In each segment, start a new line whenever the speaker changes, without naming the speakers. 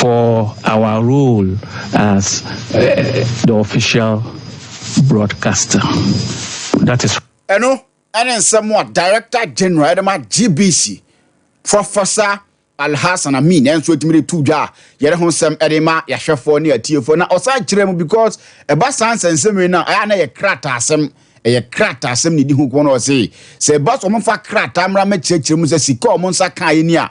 For our role as the official broadcaster, that is. Ɛno ɛne
nsɛm a Director General ɛde ma GBC, Professor Alhassan Amin ɛnso ɛtumi de tu dwa a yɛde ho nsɛm ɛde ma yɛahwɛfoɔ ne atiefoɔ na ɔsan kyerɛ mu because ɛba saa nsɛnsɛmire no a ɛyɛ a na yɛ krataasɛm ɛyɛ krataasɛm ne di ho kɔn na ɔse sɛ ɛba so ɔmofa krataa mmra mɛkyerɛkyerɛ mu sɛ sika a ɔmo nsa kaeɛ ni a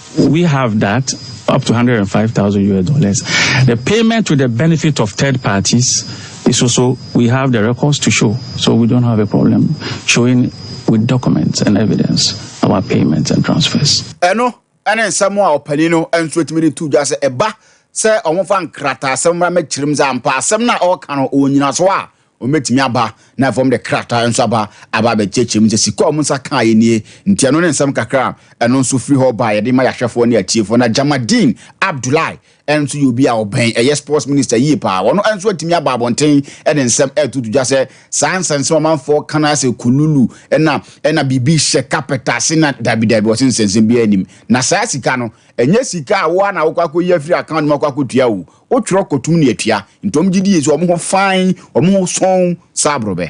We have that up to 105,000 US dollars. The payment to the benefit of third parties is also, we have the records to show. So we don't have a problem showing with documents and evidence our payments and transfers. Eno, ɛne
nsɛm a ɔpanin no nso atumi de to dwa sɛ ɛba sɛ wɔfa nkrataasɛm mmara mɛkyerɛm sɛ ampa asɛm no a ɔreka no ɔwɔ nyinaso a Wɔbɛtumi aba, na afei wɔde krataa nso aba aba abɛkyerɛkyerɛ mu sɛ sika a wɔn nsa kaeɛ nie. Nti ɛno ne nsɛm kakra a ɛno nso firi hɔ baeɛ de ma yɛahwɛfoɔ ne atiefoɔ. Na Jamadeen Abdullahi nso yɛ obi a ɔbɛn ɛyɛ sports minister yie paa. Ɔno nso atumi aba abɔnten de nsɛm retutu dwa sɛ saa nsɛnsɛm a ɔmanfoɔ ka no ara sɛ kululu na na biribi hyɛ carpet ase na dabi dabi wɔse nsɛnsɛm biara nnim. Na saa sika no, ɛnyɛ sika a wo ara na wokɔ akɔyi afiri account mu akɔ akɔtua o. O twerɛ kɔtum ne atua, nti wɔn gye die sɛ wɔn ho fann, wɔn ho sɔnn sɛ aborɔbɛ.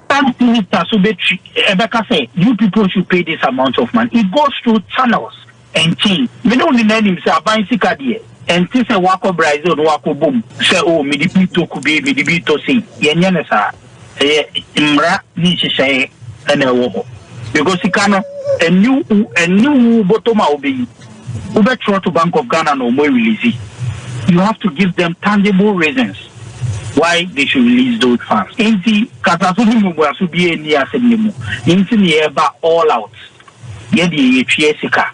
Prime Minister
so bɛtwi ɛbɛka sɛ you people should pay this amount of money, it goes through channels and chains, me ne wo nyinaa nim sɛ aban sika deɛ ɛnte sɛ woakɔ Brazil na woakɔbɔ mu sɛ oh mede bi retɔ kube, mede bi retɔ sei, yɛnyɛ no saa. Ɛyɛ mmara ne nhyehyɛe na ɛwɔ hɔ because sika no ɛni ɛni wu bɔtɔm a wobɛyi wobɛtwerɛ to Bank of Ghana na wɔn release you have to give them tangible reasons why they should release those funds nti kasaso ne mmuaso bi ɛni asɛm ne mu nti ne yɛba all out yɛde yɛtwea sika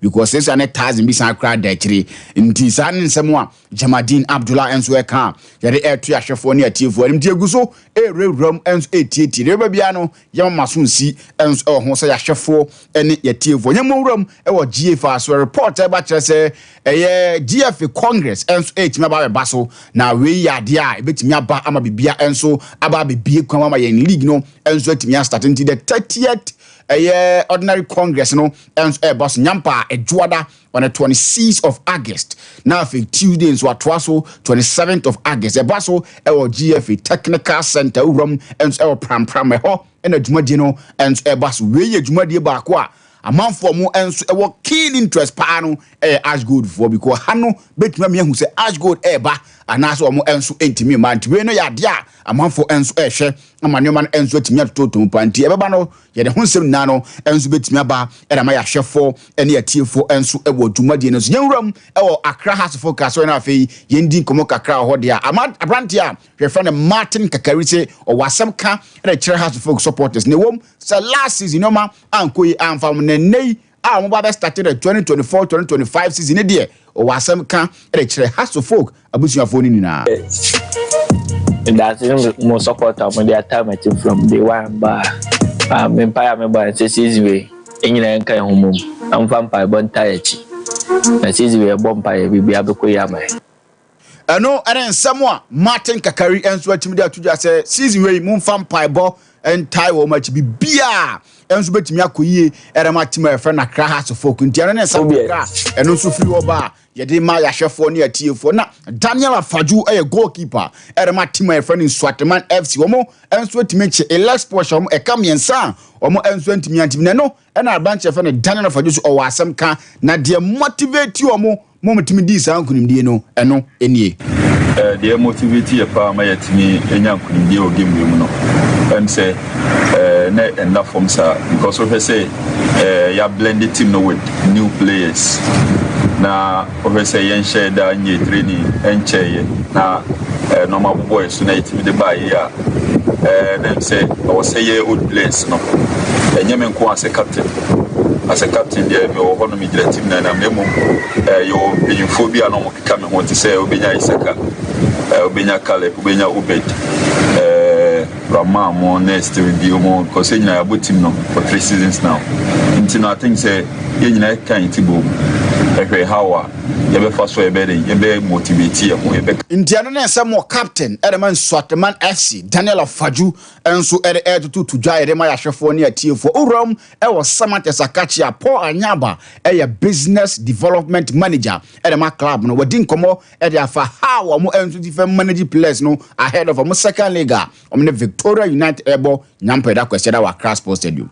Because sesa ne tazin bi san kora da akyire nti saa ne nsɛm a Jamadeen Abdullah nso ɛka a yɛde ɛreto ahwɛfoɔ ne atiefoɔ anim nti yɛgu so ɛrewurawura mu nso ɛretietie deɛ ɛbɛba biara no yɛma ma so nsi nso ɛwɔ ho sɛ yɛahwɛfoɔ ne yɛatiefoɔ yɛn mmɔ wura mu ɛwɔ GFA so report ɛba kyerɛ sɛ ɛyɛ GFA Congress nso ɛretumi aba abɛba so na wei yɛ adeɛ a ɛbɛtumi aba ama bibia nso aba abɛbie kwan ama yɛn league no nso atumi astate nti the 30th ɛyɛ ordinary Congress no nso ɛreba so nyampa a ɛdwoada on the twenty sixth of august na afei tuesday nso atoa so twenty seventh of august ɛba so ɛwɔ gfa technical center wura mu nso ɛwɔ prampram ɛhɔ ɛna dwumadie no nso ɛba so wei yɛ dwumadie baako a amanfoɔ mo nso ɛwɔ keen interest paa no ɛyɛ ash gold foɔ because ha no bɛtumi ami ahu sɛ ash gold ɛreba anaasɛ wɔn nso ntumi mma nti wei no yɛ adeɛ a amanfoɔ nso ɛrehwɛ ama nneɛma no nso atumi atototom paa nti ɛbɛba no Yɛn ho nsɛm nyinaa no nso betumi aba na ama yɛahwɛfo ne atiefo nso wɔ dwumadie no so. Yɛn wuram wɔ Accra Hasofo Nkaeɛsɔre no a afei yɛn di nkɔmmɔ kakra wɔ hɔ deɛ a, ama aberanteɛ a yɛfrɛ no Martin Kakari se ɔwɔ asɛm ka de kyerɛ Hasofo supporters. Na ɛwom sɛ last season nneɛma ankɔ yi amfa wɔn na ɛnnɛ yi a wɔn ba bɛ start the twenty twenty four twenty twenty five season ne deɛ ɔwɔ asɛm ka de kyerɛ Hasso folk abusuafoɔ no nyinaa.
Ndase mo support a mo de ataa mo ti from day one ba a me mpae a me bɔ ɛsɛ season wei nyinaa nka ɛho mom na mo fa mpaebɔ ntaa akyi na season wei ɛbɔ mpaeɛ biribi abɛkɔ yi ama yɛ. Ɛno
ne nsɛm a Martin Kakari nso atumi de ato dwa sɛ season wei momfa mpaebɔ ntae wɔn akyi biribiara nso bɛtumi akɔ yie ɛde ma tim a yɛfrɛ no Accra Hearts of Oak nti ɛno ne nsɛm kakra ɛno nso firi hɔ ba a yɛde ma yɛahwɛfoɔ ne atiefoɔ na Daniel Afadwo yɛ goalkeeper ɛde ma tim a yɛfrɛ no Nsuateman FC wɔn nso atumi nkye Elex Porsche wɔn ɛka mmiɛnsa a wɔn nso antumi antimi na ɛno Ɛna aberanteɛ yɛfrɛ no Daniel of Adusu ɔwɔ asɛm ka na deɛ motivate wɔn ma wɔtumi dii saa nkunimdie no ɛno nie. Deɛ
motivate yɛ paa ma yɛtumi nya nkunimdie wɔ game wei mu no ɛm sɛ na ɛnna fam saa because wohwɛ sɛ yɛ ablende team no with new players na Wɔhwɛ sɛ yɛnhyɛɛ da nyɛɛ treni nkyɛeɛ na nnoɔma abobɔ yɛn so na yɛtumi de baa yei a, na ɛm sɛ ɛwɔ sɛ yɛyɛ old players no. Ɛnyɛ me nko a sɛ captain. As a captain deɛ mewɔ hɔ no megyina team no anim na mmom yɛwɔ mpanyinfoɔ bi a na wɔkeka me ho te sɛ wobɛnya Isaka, wobɛnya Caleb, wobɛnya Obed. Ɔmaa mo ne still di ɔmo cause yɛn nyinaa yɛabɔ team no for three seasons now nti no I think sɛ yɛn nyinaa yɛkeka yɛn ti bom hwɛ how a yɛbɛfa so a yɛbɛyɛ dɛn yɛbɛ motivate yɛn ho yɛbɛ Nti ɛno ne nsɛm
wɔ captain de ma Nsuateman FC, Daniel Afadju nso de retoto to dwa de ma yɛn ahwɛfoɔ ne atiefoɔ. Owuram wɔ Samatex Akakyea, Paul Anyaba yɛ Business Development Manager de ma club no. Wadi nkɔmmɔ ɛde afa ha a wɔn nso ti fam manage players no ahead of wɔn second leg a wɔn ne Victoria Unite ɛbɔ nyampɛ da kwasiada wɔ Accra Sports Stadium.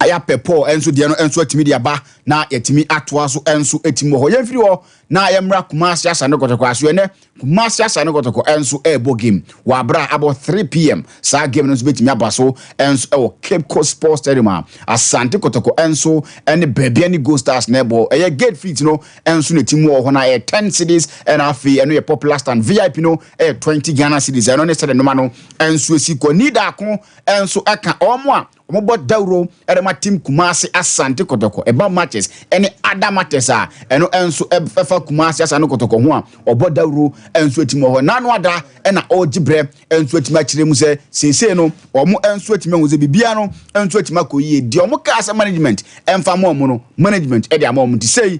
Ayapɛ Paul nso deɛ no nso atumi de aba na yɛtumi atoa so nso atumi wɔ hɔ. Yɛmfiri hɔ na yɛmmra Kumasi Asante Kɔtɔkɔ aso ɛnɛ Kumasi Asane Kɔtɔkɔ nso rebɔ game wɔ abere a abɔ 3 pm. Saa game no nso betumi aba so nso wɔ Cape Coast Sports Stadium a Asante Kɔtɔkɔ nso ne Babia ne Gold Stars na ɛbɔ. Ɛyɛ gate feet no nso na ti mu wɔ hɔ na ɛyɛ 10 cedis ɛna afei ɛno yɛ popular stand. VIP no yɛ 20 Ghana cedis. Ɛno ne sɛde noma no nso esi kɔ. Nidaako nso ɛka wɔn a Wɔbɔ dawuro de ma Team Kumasi Asante Kotoko, ɛba matches ne other matters a ɛno nso ɛfa Kumasi Asante Kotoko ho a, wɔbɔ dawuro nso atim wɔ hɔ. Nano Ada na ɔregye berɛ nso atim akyerɛ mu sɛ seesei no wɔn nso atumi ahu sɛ biribiara no nso atumi akɔ yie. Deɛ wɔkaa sɛ management mfa ma wɔn no, management de ama wɔn nti sei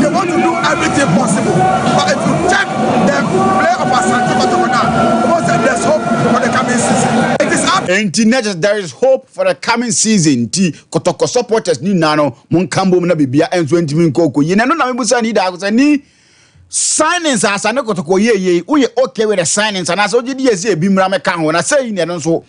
They want to do everything possible but if you check the play of Asante Kotoko now, Omo said there's hope for the coming season. It is up. Enti na just there is hope
for the coming season nti Kotoko supporters ni nyinaa no mo nka mbom na bibia nso ntumi nkɔ ɔkɔ yie. Na ɛno na mebusa ni daako sɛ ni signings a Asante Kotoko yɛ yei woyɛ okay with the signings anaasɛ wogye di yɛ sɛ ebi mmra mɛka ho na sɛ yi na ɛno nso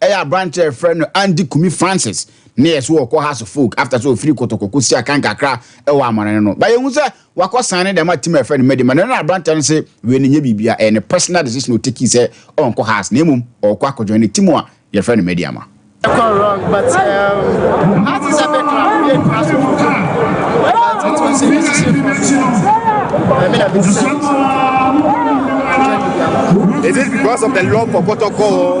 Ɛyɛ aberantsɛ a yɛfrɛ no Andy Kumi Francis na yɛ so wɔkɔ Hearts of Oak after sɛ ofir Kotoko kosiaa kan kakra wɔ amɔnane no. But yehu sɛ wɔakɔsan no dɛm a team a yɛfrɛ no Medi ma no na aberantsɛ no se wei no nnyɛ biribia, ɛyɛ ne personal decision a otekii sɛ ɔnnkɔ Hearts na mbom ɔɔkɔ akɔjoin ne team a yɛfrɛ no Medi ama. Ɛkɔ wrong but um,
Hearts is a big club, we didn't trust him but it was a decision for me. I mean, I've been
saying so. Is it because of the love for Kotoko?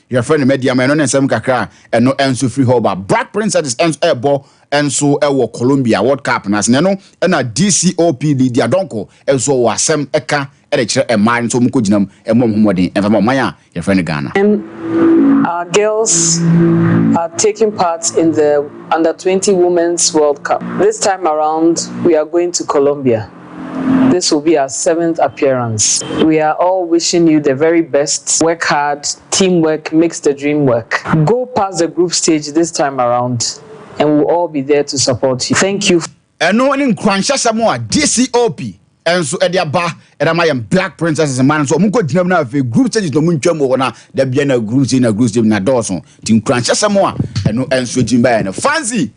Yɛfrɛ no Mediama, ɛno ne nsɛm kakra a ɛno nso firi hɔ ba. Black Princesses nso ɛrebɔ nso wɔ Colombia World Cup no ase, na ɛno na DCOP Lydia Donkor nso wɔ asɛm ɛka de kyerɛ mmaa nso wɔnkɔgyina mu mmɔ wɔn ho mmɔden mfa ma ɔman a yɛfrɛ no Ghana. And our
girls are taking part in the Under 20 Women's World Cup. This time around we are going to Colombia. This will be our seventh appearance we are all wishing you the very best work hard team work makes the dream work go past the group stage this time around and will all be there to support you thank you for. Ɛno ne
nkuranhyɛsɛm a GCOP nso de aba de ama yɛn Black Princesses mma no nso wɔnkɔ gyina mu na afei group stages na wɔntwa mu wɔ hɔ na da bia na group stage na group stage na dɔɔso nti nkuranhyɛsɛm a ɛno nso gyina baeɛ no Fancy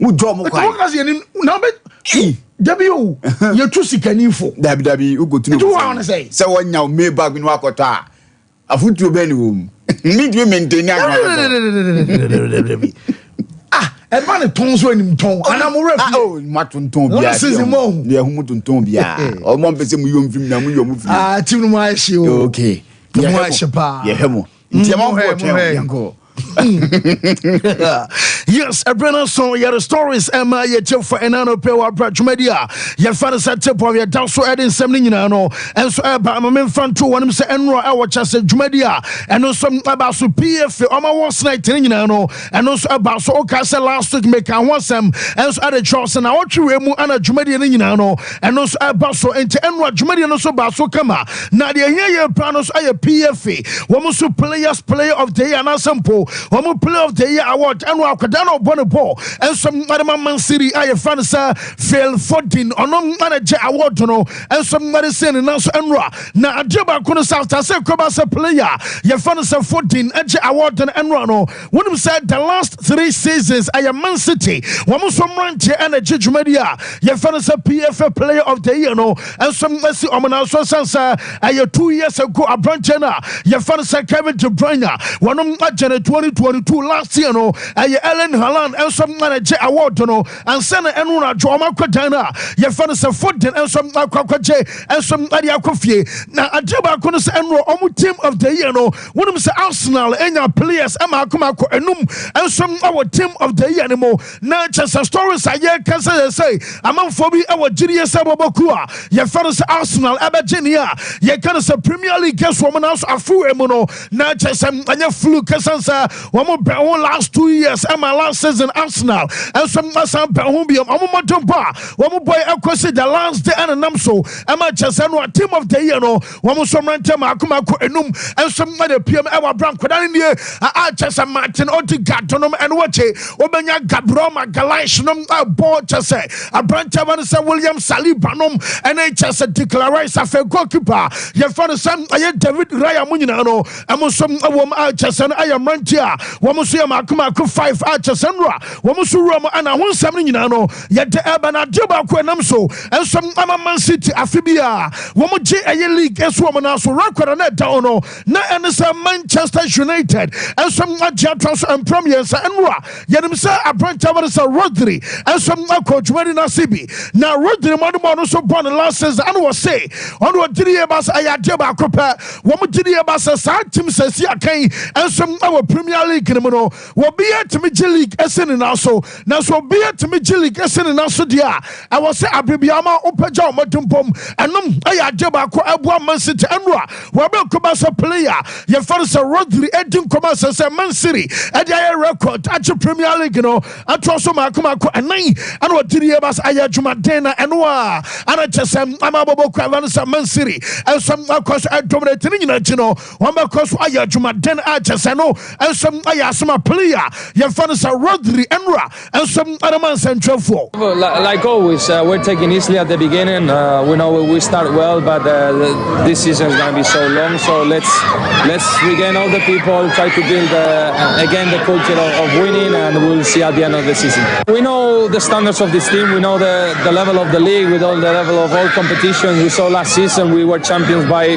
wodwa ɔmo kwan. Ɛtɔmɔkasi yɛ ni na bɛ.
Eyi. Dabi o yɛ tu sikani fo. Dabi dabi o ko tunu. Etu
wa ɔno sɛ. Sɛ wɔn
nya o mee bag
ni wakɔtɔ a afutuo bɛn ni wɔn mu mi tumi mɛntɛni agorɔ tɔtɔ.
Ah ɛba ne tɔn so ɛnim tɔn ana mo wura fi. o ma tontɔn bi a. Wɔn
sisi mo ahu. Yɛ ɛhu mo tontɔn bi a ɔmo mpɛsɛ mo yom fim na mo yom fim. Ah ti mu ayɛ hye o. Okay. Mo ayɛ hye paa. Yɛ hɛ mo. nti ɛma nkoɔ twɛn
o yɛnkɔ yes ɛberɛ no so yɛde stories ɛma yɛtie fa ɛna no pɛ wɔabrɛ dwumadi a yɛfa no sɛ tebɔ yɛda so ɛde nsɛm no nyinaa no ɛnso ɛba ma memfa nto wɔnom sɛ ɛnora ɛwɔ kyɛ sɛ dwumadi a ɛno nso ɛba so pii efe ɔma wɔ sena ɛtene nyinaa no ɛno nso ɛba so woka sɛ last week meka ho asɛm ɛnso ɛde kyerɛw sɛ na ɔtwe wei mu ana dwumadie no nyinaa no ɛno nso ɛba so nti ɛnoa dwumadie no so ba so kama na deɛ ɛhia yɛ paa no nso ayɛ pfa wɔn nso players player of the year anaasɛ mpo wɔn player of the year award ɛno akwadaa na ɔbɔ ne bɔɔl ɛnso mmade ma mansiri a yɛfrɛ no sɛ fail fodin ɔno mmade gye award no ɛnso mmade sɛ ne nan so ɛnoa Na adeɛ baako no sɛ after sɛ Kweba sɛ player a yɛfrɛ no sɛ Foden gye award no ɛnoa no wonim sɛ the last three seasons ɛyɛ Man City wɔn nso mmeranteɛ ɛna ɛgye dwumadie a yɛfrɛ no sɛ PFA player of the year no nso asi wɔn nan so ɛsiane sɛ ɛyɛ two years ago aberanteɛ no a yɛfrɛ no sɛ Kevin De Bruyne a wɔnom agye no 2022 last year no ɛyɛ Erling Haaland nso ɛna ɛgye award no Ansa na ɛno anadwo wɔn akɔ dan a yɛfɛ no sɛ foden nso akɔ akɔgye nso ɛde akɔ fie na adeɛ baako no sɛ ɛno wɔn team of the year no wonim sɛ Arsenal enya players mmaako mmaako enum nso wɔ team of the year no mu na kyɛ sɛ stories a yɛka sɛ yɛ sɛ amanfoɔ bi wɔ gyidie sɛ bɔbɔ kuo a yɛfɛ no sɛ Arsenal ɛbɛgye ne a yɛka no sɛ Premier League so wɔn nanso afoe mu no na kyɛ sɛ ɛnyɛ flu kɛsɛn sɛ wɔn bɛn ho last two years ɛma last season Arsenal nso asan bɛn ho biom wɔn mmɔden bɔ a wɔn bɔ yi ɛkɔsi the last day ɛnenam so ɛma kyɛ sɛ no a team of the year no wɔn nso mmerante mako mako enum nso ɛna piem ɛwɔ abira nkwadaa no nie a kyɛ sɛ Martin Odegaard nom ɛno wɔkye Wobɛnya Gabriel Magalhaes nom bɔ kyɛ sɛ aberanteɛ ba no sɛ William Saliba nom ne kyɛ sɛ Declan Rice afei goalkeeper a yɛfrɛ no sɛ ɛyɛ David Raya mo nyinaa no ɛmo nso wɔm a kyɛ sɛ no ɛyɛ mmeranteɛ a wɔn nso yɛ maako maako five a kyɛ sɛ nnora wɔn nso wura mu ɛna ho nsɛm no nyinaa no yɛde ɛbɛ na adeɛ baako ɛnam so nso ama Man City afe bi a wɔn gye ɛyɛ league nso wɔn nan so record na ɛda hɔ no na ɛne sɛ Manchester United nso agye atra so mpra mmiɛnsa ɛno a yɛnim sɛ aberantɛ bɛde sɛ Rodri nso akɔ dwumadi no ase bi na Rodri mmɔdemmɔ no nso bɔ ne last season ɛne wɔ se ɔne wɔ gyidie ba sɛ ɛyɛ adeɛ baako pɛ wɔn gyidie ba sɛ saa tim sɛ si akan nso wɔ Premier League no mu no Obiara tumi gye league si ne nan so, nanso obiara tumi gye league si ne nan so deɛ a, ɛwɔ sɛ abere biara ma wopagya wo mmɔdenbɔm. Ɛnom yɛ adeɛ baako a ɛboa Man City. Ɛno a wɔabɛkɔ ba sɛ player a yɛfrɛ no sɛ Rodri redi nkɔmmɔ a ɛsɛ sɛ Man City de ayɛ record agye Premier League no atoa so mmaako mmaako nnan na wɔde die ba sɛ ayɛ adwumaden na ɛno a ana kyɛ sɛ ama abɔbɔ kura no sɛ Man City nso akɔ so dominate ne nyinaa akyi no Wɔbɛkɔ so ayɛ adwumaden a kyɛ sɛ no nso yɛ asɛm a play a yɛmfa no sɛ Rodri nnora nso de ma nsɛntwerɛfoɔ. Like always,
uh, we're taking easily at the beginning. Uh, we know we start well, but uh, this season is going to be so long. So let's let's regain all the people, try to build uh, again the culture of, of, winning, and we'll see at the end of the season. We know the standards of this team. We know the the level of the league. We know the level of all competitions. We saw last season we were champions by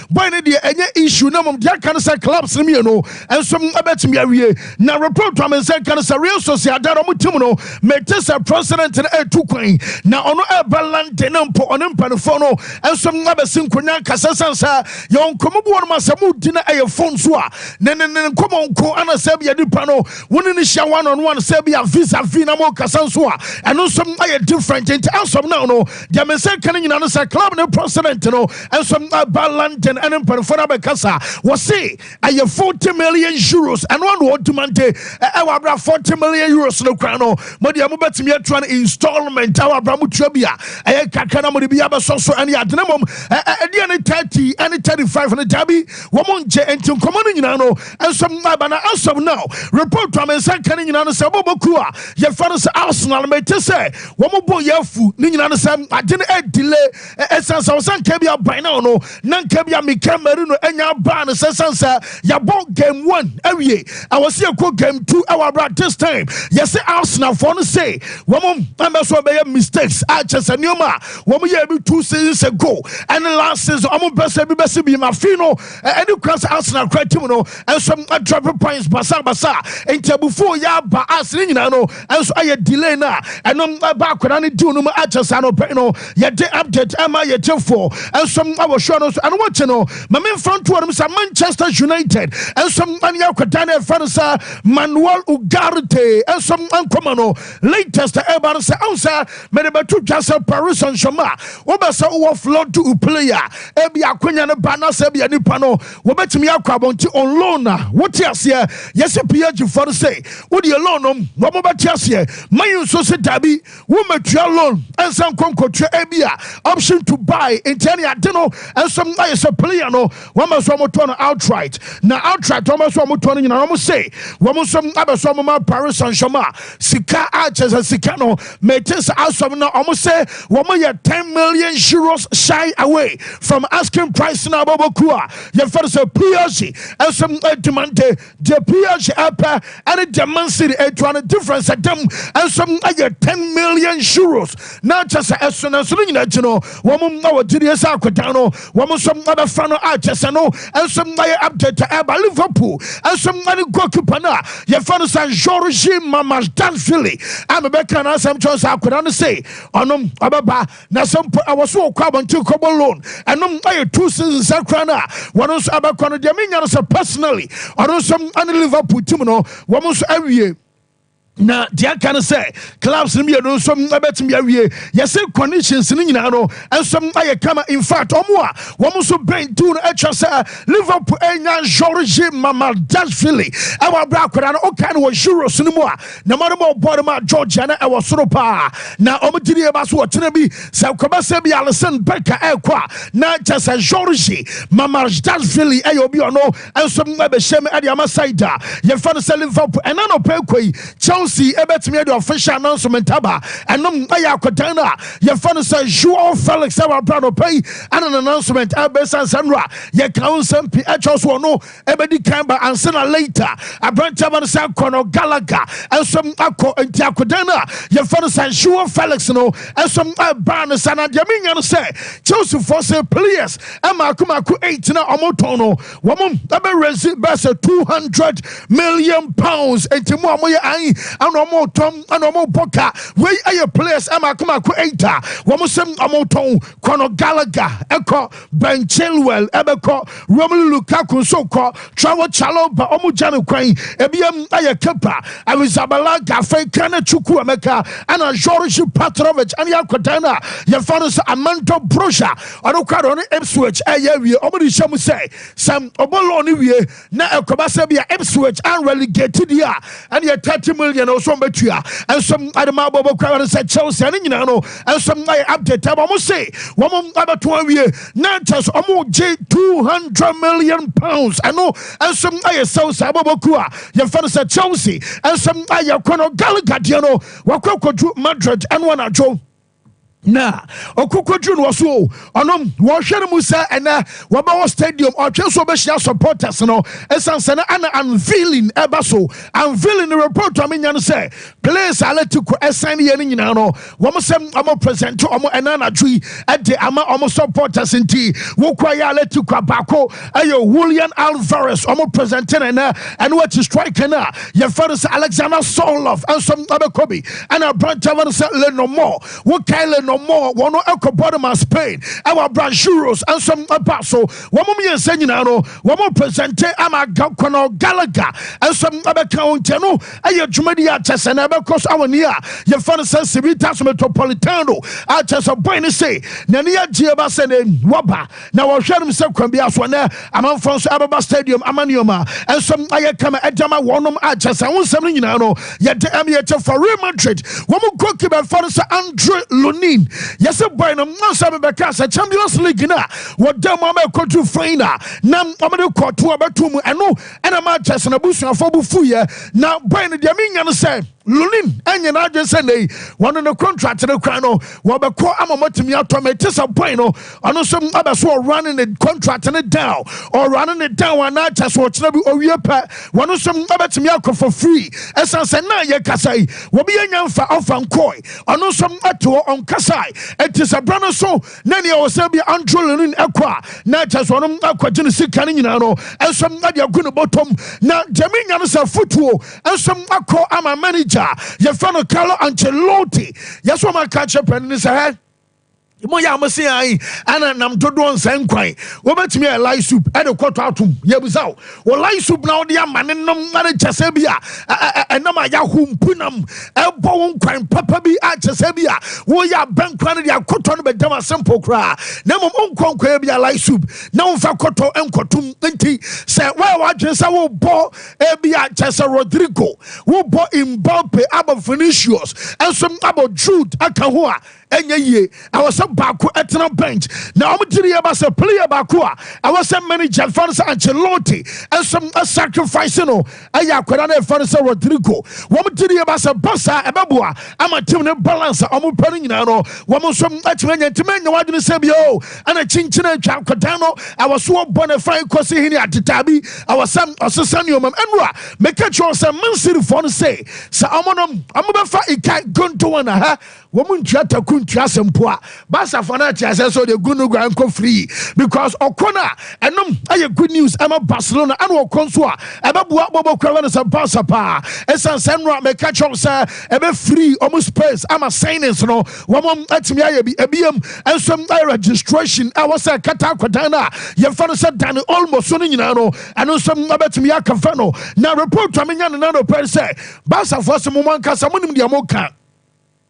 Boy no deɛ ɛnyɛ issue na mmom deɛ aka no sɛ clubs no mmienu nso bɛtumi awie. Na report a me nsa nka no sɛ Real Sociedad wɔn team no mete sɛ president no retu kwan na ɔno reba London na mpo ɔne mpanimfoɔ no nso abɛsi nkonnwa nkasa sane sɛ yɛwɔ nkɔmmɔ bi wɔnom a sɛ modi no ɛyɛ phone so a ne ne ne nkɔmmɔ nko ana sɛ bia nipa no wo ne no hyia one on one sɛ bia vis a vis na mokasa nso a ɛno nso ayɛ different nti as of now no Deɛ me nsa ka no nyinaa no sɛ club no president no nso ba London ɛne mpanimfoɔ no abɛkasa. Wɔse ɛyɛ 40 million euros ɛno ano ɔdimante ɛwɔ abira 40 million euros no kora no mo deɛ mobɛtumi atua no installment ɛwɔ abira mo tua bi a ɛyɛ kakra na mode bi abɛsɔ so ɛne ade no mmom ɛdeɛ ne 30 ɛne 35 no daabi wɔn ngye nti nkɔmmɔ no nyinaa no nso maba na asɛm now report a me nsa ka no nyinaa no sɛ bɔbɔkuo a yɛfa no sɛ Arsenal mete sɛ wɔn bo yɛ afu ne nyinaa no sɛ agye no adile ɛsiane sɛ ɔsɛ nka bi aban no no na nka bi a mika mari no anya abaa no sɛ sane sɛ yɛbɔ game one awie ɛwɔ sɛ yɛkɔ game two ɛwɔ abera this time yɛsɛ arsenalfoɔ no se wɔn ɛmɛ so bɛyɛ mistakes a kyɛ sɛ nneɛma a wɔn yɛ bi two seasons ago ɛne last season wɔn pɛ sɛ bi bɛsi bi ma fi no ɛne kura sɛ arsenal kura tim no ɛnso adrape points basabasa nti abufuo yɛ aba a sene nyinaa no nso ayɛ delay no a ɛno ɛba akwadaa no diw no mu akyɛ saa no pɛ no yɛde update ɛma yɛ gyefo nso wɔ show no so ɛno wɔkye no ma memfa nto wɔnom sɛ manchester united nso ne akwadaa no ɛfrɛ no sɛ manuel ugarte nso nkɔma no latest ɛba no sɛ ɛho sɛ mede bɛto dwa sɛ paris nhyɛma wobɛ sɛ wowɔ flɔ do player ebi akonya no ba na sɛ bia nipa no Wobɛtumi akɔ abɔnte on loan a wote aseɛ yɛse PH foɔ no se wodeɛ loan nom na ɔmo bɛte aseɛ ma yi nso se daabi wo mmɛtua loan nsa nkɔ nkɔtua ebia option to buy nti ɛne ade no nso ayɛ sɛ player no wama so ɔmo tɔ no outright na outright ɔmo so ɔmo tɔ no nyina ɔmo se wɔn nso abɛsɔ ɔmo ma Paris Saint-Germain sika a kyɛ sɛ sika no Mete saa asɛm no wɔn sɛ wɔn yɛ ten million euros shy away from asking price na wɔbɔ ku a yɛfɛ no sɛ PSG nso demande deɛ PSG ɛpɛ ɛne deɛ Man City ɛtua no difference ɛdam nso ɛyɛ ten million euros na kyɛ sɛ ɛso na nso no nyinaa akyi no wɔn a wɔgye deɛ sɛ akɔdan no Wɔn nso bɛfrɛ no a kyerɛ sɛ no nso ayɛ update a ɛba Liverpool nso ne goalkeeper no a yɛfrɛ no sɛ Georgi Mamardashvili a mebɛka no asɛm kyerɛ sɛ akwadaa no sei ɔnom ɔbɛba na sɛ mpo ɛwɔ so wɔkɔ abɔnten kɔbɔ loan ɛnom ayɛ two seasons akora no a wɔn nso ɛbɛkɔ no deɛ menya no sɛ personally ɔno nso ne Liverpool team no wɔn nso awie na deɛ aka no sɛ clubs no mmienu nso bɛtumi awie yɛsɛ conditions no nyinaa no nso ayɛ kama in fact ɔmo a wɔn nso bɛn diw no atwa sɛ liverpool anya george mamadashvili ɛwɔ abira akwadaa no ɔka no wɔ euros no mu a na ma no ma ɔbɔ no ma georgia na ɛwɔ soro paa na ɔmo gyiri yɛ ba so wɔkyerɛ bi sɛ kɔbɛsɛ bi alison bɛka ɛkɔ a na kyɛ sɛ george mamadashvili ɛyɛ obi ɔno nso bɛhyɛ mu de ama side a yɛfrɛ no sɛ Liverpool. Ɛna nɔpɛ kɔ yi, Chelsea bɛtumi de official announcement aba. Ɛnom ayɛ akɔdan a yɛfrɛ no sɛ Joao Felix wɔ abira nɔpɛ yi ɛna no announcement ɛbɛ sɛ sɛ nnora yɛka wo nsɛm pii ɛkyɛw so ɔno ɛbɛdi kan ba ansa na later aberanteɛ ba no sɛ akɔ no Gallagher nso akɔ nti akɔdan a yɛfrɛ no sɛ Joao Felix no nso ɛbaa no sɛ na deɛ menya no sɛ Chelsea fɔ sɛ players Mmaako mmaako eight na wɔn tɔn no wɔn bɛ raise bɛyɛ sɛ two hundred million pounds nti mu a wɔn yɛ ayi ɛna wɔn tɔn ɛna wɔn bɔ ka wei ɛyɛ players mmaako mmaako eight a wɔn sɛ wɔn tɔn kɔnɔ galaga ɛkɔ Ben Chilwell ɛbɛkɔ Romelu Lukaku nso kɔ Traore Chalobah wɔn gya no kwan ebi yɛm ɛyɛ Kepa Arrizabalaga afei Kane Chukwu Emeka ɛna Jorge Patrovic ɛna yɛ akɔdan no a yɛfa no sɛ Amando Broja. Ɔno kura dɔn no Ipswich ɛyɛ awie ɔmo de hyɛ mu sɛ sɛ ɔbɔ loan no wie na ɛkɔba sɛ bi a Ipswich an relegate di a ɛneɛ thirty million ɛwɔ sɛ ɔmo bɛtua nso ɛde ma bɔbɔ kura no sɛ Chelsea ɛne nyinaa no nso ayɛ update ɛma ɔmo se wɔn abɛto awie na kyɛ sɛ ɔmo gye two hundred million pounds ɛno nso ayɛ Chelsea bɔbɔ kura yɛfɛ no sɛ Chelsea nso ayɛ kɔ no Gallagher deɛ no wakɔ akɔduru Madrid ɛno anadwo na ɔkɔkɔduru no wɔ so o ɔno wɔhwɛ no mu sɛ ɛnɛ wɔbɛwɔ stadium ɔtwe so ɔbɛhyia supporters no ɛsiane sɛ no ana unveiling ɛba so unveiling no report a menya no sɛ place alatico ɛsan yɛ no nyinaa no wɔn sɛ wɔn present wɔn ɛna anadwo yi ɛde ama wɔn supporters nti wokɔ yɛ alatico abaako ɛyɛ Julian Alvarez ɔmo presente ne nɛ ɛno akyi striker no a yɛfɛ no sɛ Alexander Solov nso abɛkɔ bi ɛna aberantɛ wɔ no sɛ Lenormand wokae Lenormand wɔn ɛkɔ bɔ no ma Spain ɛwɔ Brajuros nso ɛba so wɔn mmiɛnsa nyinaa no wɔn presente ama Conor Gallagher nso ɛbɛka wɔn nkyɛn no ɛyɛ dwumadi a kyɛ sɛ na ɛbɛkɔ so awɔ ni a yɛfɛ no sɛ Civitas Metropolitano a kyɛ sɛ bɔn ne se n'ani agye ba sɛ ne wɔba Na wɔhwɛ nom sɛ kwan biara so na amanfoɔ nso ɛbɛba stadium ama nneɛma nso ayɛ kama ɛde ama wɔn nom a kyɛ sɛ ho nsɛm no nyinaa no yɛde ɛm yɛkyɛ fa Real Madrid wɔn goalkeeper fa no sɛ Andre Lunin yɛsɛ bɔe no nso bɛbɛka sɛ Champions League no a wɔda mu ama ɛkɔduru fain a na wɔde kɔto a bɛto mu ɛno ɛna ma kyɛ sɛ n'abusuafoɔ bo fuyɛ na bɔe no deɛ menya no sɛ Lunin anyɛ n'adwene sɛ nnɛyi wɔne no kɔntrakte no kwan no wɔbɛkɔ ama matumi atɔ me te sɛ bɔn no ɔno nso abɛso ɔwura ne ne kɔntrakte no down ɔwura ne ne down anaa kyɛ so ɔkyena bi owie pɛ wɔn nso abɛtumi akɔ for free ɛsan sɛ na yɛ kasa yi wɔbi yɛ nya mfa ɔfa nkɔe ɔno nso ɛte hɔ ɔnkasae ɛte sɛ bra no so na nea ɔsɛ bi antro lunin ɛkɔ a na kyɛ so ɔno akɔgye ne sika no nyinaa no ɛnso ɛde agu ne bɔtɔm na gyami nya no sɛ fotuo nso makɔ ama manager a yɛfrɛ no Carlo Ancelotti yɛ so ɔma ka kyerɛ pɛn ne sɛ hɛ mo yɛ a mo se ayi ɛna nam dodoɔ nsɛn nkwan wɔbɛtumi yɛ lai soup ɛde kɔtɔ atom yɛbisa o wɔ lai soup na wɔde ama ne nom ɛne kyɛ sɛ bi a ɛnam a yɛaho mpu nam ɛbɔ wo nkwan papa bi a kyɛ sɛ bi a woyɛ abɛn kora no de akɔtɔ no bɛdam asempo koraa na mmom wonkɔ nkɔyɛ bi a lai soup na womfa kɔtɔ nkɔtom nti sɛ woyɛ w'adwene sɛ wobɔ Ebia kyerɛ sɛ Rodrigo, wobɔ Mbappe abɔ Vinicius nso abɔ Jude aka ho a, ɛnyɛ yie. Ɛwɔ sɛ baako tena bench. Na wɔgyere yɛ ba sɛ player baako a ɛwɔ sɛ manager fa no sɛ Ancelotti nso sacrifice no ɛyɛ akwadaa no ɛfa no sɛ Rodrigo. Wɔgyere yɛ ba sɛ Barca ɛbɛboa ama team no balance a wɔpɛ no nyinaa no wɔn nso atumi anya. Nti mɛnyɛ w'adwene sɛ bio ɛna kyinkyin atwa akwadaa no ɛwɔ so ɔbɔ ne fan kɔsi hene atetaa bi ɛwɔ sɛ ɔsesa nneɛma mu ɛnura meka kyerɛ sɛ mansirifoɔ no se sɛ ɔmo no ɔmo bɛfa ika gonto wɔn aha wɔn ntua taku ntua asɛmpo a basafoɔ no ate asɛ sɛ ɔde gu no gua nkɔ free because ɔkɔ no a ɛnom ɛyɛ good news ɛma barcelona ɛna ɔkɔ nso a ɛbɛboa bɔbɔ kura wɛne sɛ basa paa ɛsan sɛ ɛnura meka kyerɛ sɛ ɛbɛ free ɔmo space ama signings no Wɔn atumi ayɛ bi. Ebiem nso yɛ registration a wɔsɛ ɛkata akwadan no a yɛmfa no sɛ Dani Olmo so no nyinaa no, ɛno nso bɛtumi akɔfa no. Na report a menya no na anɔpa yi sɛ Barcafoɔ se mo mo ankasa monim deɛ moka.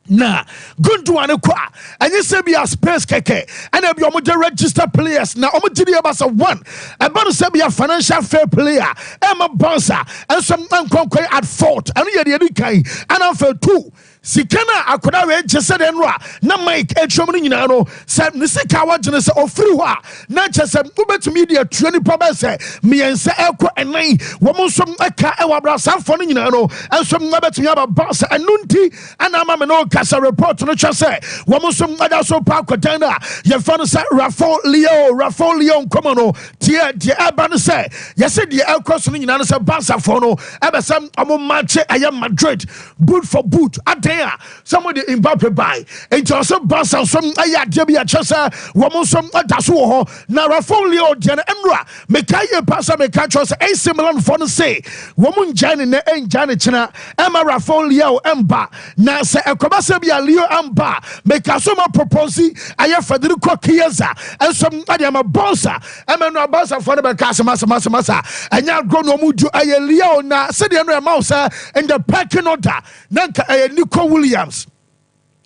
Na Gundogan kɔ a, ɛnyɛ sɛ bi a Spurs kɛkɛ ɛna bi wɔgye register players na wɔgye deɛ ɛba sɛ one ɛba no sɛ bi a financial fair play a ɛma Barca nso nkɔnkɔe at fault ɛno yɛ deɛ ɛdi kan ɛna afei two Sika no a akwadaa wei gye sɛdeɛ no a na Mike atwam no nyinaa no, sɛ ne sika a wɔgye no sɛ ɔfiri hɔ a, na kyɛ sɛ wobɛtumi de atua nnipa bɛyɛ sɛ mmiɛnsa ɛkɔ ɛnan. Wɔn nso ɛka ɛwɔ abrasafoɔ no nyinaa no nso ɛbɛtumi aba ba sɛ ɛno nti ɛna ama me ne wo ka sɛ report no kyerɛ sɛ wɔn nso ɛda so pa akwadaa no a yɛfa no sɛ Rafael Leão Rafael Leão nkɔmɔ no tie deɛ ɛba no sɛ yɛsɛ deɛ ɛkɔ so no nyinaa no sɛ Barcafoɔ no ɛbɛsɛ wɔn mmaakye ɛyɛ Madrid boot for boot adan a sɛ mo de Mbappe bae nti ɔsɛ Barca nso ayɛ adeɛ bi ɛkyɛ sɛ wɔn nso ɛda so wɔ hɔ na Rafael Leo deɛ no ɛnora meka yie paa sɛ meka kyerɛ sɛ AC Milan foɔ no se wɔn ngyae ne nɛ ɛngyae ne kyena ɛma Rafael Leo ɛmba na sɛ ɛkɔba sɛ bi a Leo ɛmba meka so ma propose ayɛ Federico Chiesa nso ɛde ama Barca ɛma no abansafoɔ no bɛka asɛm asɛm asɛm asa ɛnyɛ agorɔ na ɔmo du ɛyɛ lia o na sɛdeɛ no ɛma wo sɛ in the pecking order na nka ɛyɛ Nico Williams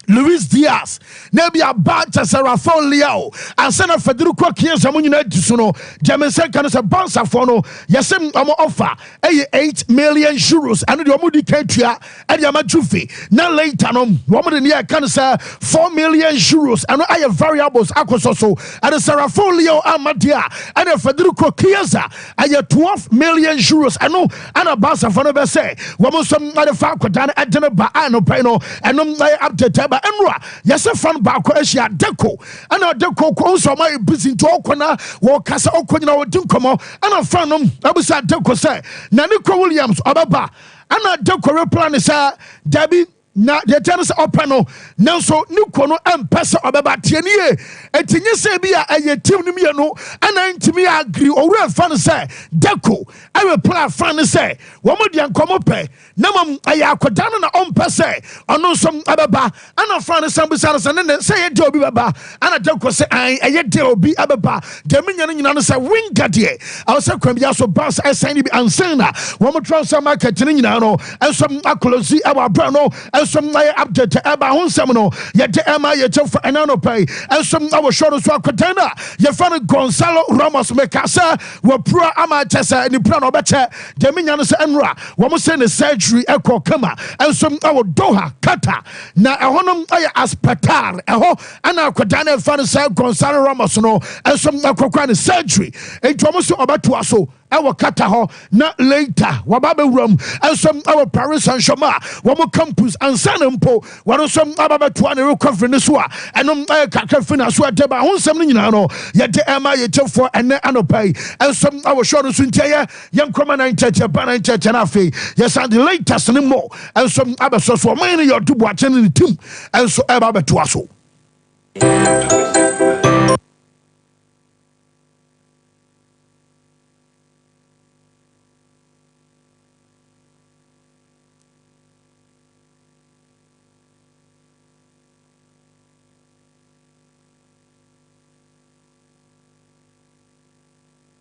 Luis Diaz na ebi aba kyɛ sɛ Rafael Leao ansa na Federico Chiesa mo nyinaa di so no deɛ me nsɛ nka no sɛ bansafoɔ no yɛsɛ ɔmo ɔfa ɛyɛ eight million euros ɛno deɛ ɔmo di kan tua ɛde ama Juve na later no wɔn de nea ɛka no sɛ four million euros ɛno ayɛ variables akɔsɔ so ɛde Sarrafo Leo ama deɛ a ɛna Federico Chiesa ɛyɛ twelve million euros ɛno ɛna Barcafo no bɛ sɛ wɔn nso ɛde fa akɔda no ɛde no ba a no pɛn no ɛno ɛyɛ update ɛba ɛnura yɛsɛ fan baako ahyia Deco ɛna Deco kɔ nso ɔma yɛ busy nti ɔkɔ na wɔkasa ɔkɔ nyina wɔdi nkɔmɔ ɛna fan no ɛbisa Deco sɛ na Nico Williams ɔbɛba Ɛna Deko reply no sɛ, Dabi, na deɛ ɛteɛ no sɛ ɔpɛ no, nanso ne kuo no mpɛ sɛ ɔbɛba. Tie no yie. Enti nyɛ sɛ ebi a ɛyɛ team no mmienu na ɛntumi agree. Owura fa no sɛ, Deko reply fa no sɛ, wɔn deɛ nka wɔpɛ, na mmom ɛyɛ akwadaa no na ɔmpɛ sɛ ɔno nso bɛba. Ɛna ɔfaa no san bisaa no sɛ, Nene, sɛ ɛyɛ dɛ obi bɛba? Ɛna Jacob se, Aane, ɛyɛ dɛ obi abɛba. Deɛ menya no nyina ne sɛ wenga deɛ ɛwɔ sɛ kwan biara so bus ɛsan ne bi ansan na wɔn tra sɛ market no nyinaa no nso akolosi ɛwɔ aberɛ no nso ayɛ update ɛba ho nsɛm no yɛde ɛma yɛ kyɛfo ɛna anɔpa yi nso ɛwɔ show no so akɔdan no a yɛfɛ no Gonzalo Ramos meka sɛ wapura ama kyɛ sɛ ne pura na ɔbɛkyɛ Deɛ menya ne sɛ nnora wɔn se ne surgery kɔ kama nso wɔ Doha, Qatar, na ɛhɔ no yɛ aspetar, ɛhɔ na akwadaa no a yɛfrɛ no sɛ Gonzalo Ramos no nso kɔkɔɛ ne surgery, enti wɔn se ɔbɛtoa so wɔ Qatar hɔ na later waba abɛwura mu nso wɔ Paris Saint-Germain a wɔn campus ansa na mpo wɔn nso aba abɛtoa ne recovery no so a ɛno yɛ kakra fi na so ɛde ba ho nsɛm no nyinaa no yɛde ɛma yɛtiefoɔ ɛnɛ anɔpa yi nso wɔ show no so nti ɛyɛ Yɛnkɔ ma na nkyɛkyɛ ba na nkyɛkyɛ no afei yɛsan de latest ne more nso abɛsɔ so ɔman no yɛ ɔdo boakye ne ne tim nso ɛba abɛtoa so.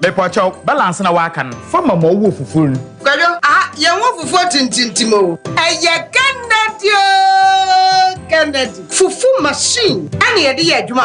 Mepɔkyɛw, balance na w'aka no, fa ma ma ɔwɔ fufuo no. Kwadwo, aha yɛn
wɔ fufuo tintintim o. Ɛyɛ Kennedy o, Kennedy. Fufu machine ɛna yɛde yɛ adwuma wɔ ha.